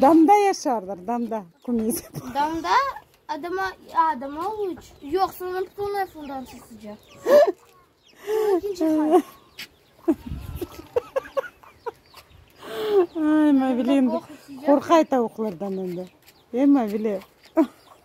Damda yaşarlar, damda. Damda adama, adama uç. Yoq, soñra tutulmay sudan çıqıcaq. Ay, Mavili, qorqay tavuqlardan endi. E, Mavili.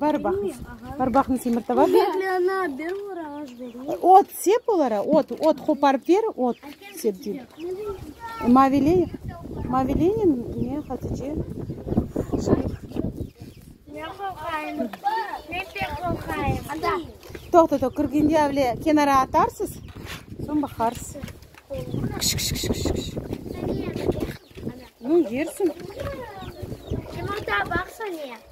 Bari baqıñ, bari baqıñ temir tava. Ot sep olara, ot, ot qoparıp ber, ot sep dey. Maviley, Mavileynen ne Hatice? Toqta, toq, kirgende avle kenara atarsız, soñ baqarsız. Kış, kış, kış, kış, kış. Ну, yersin. Yumurta baqsa ne?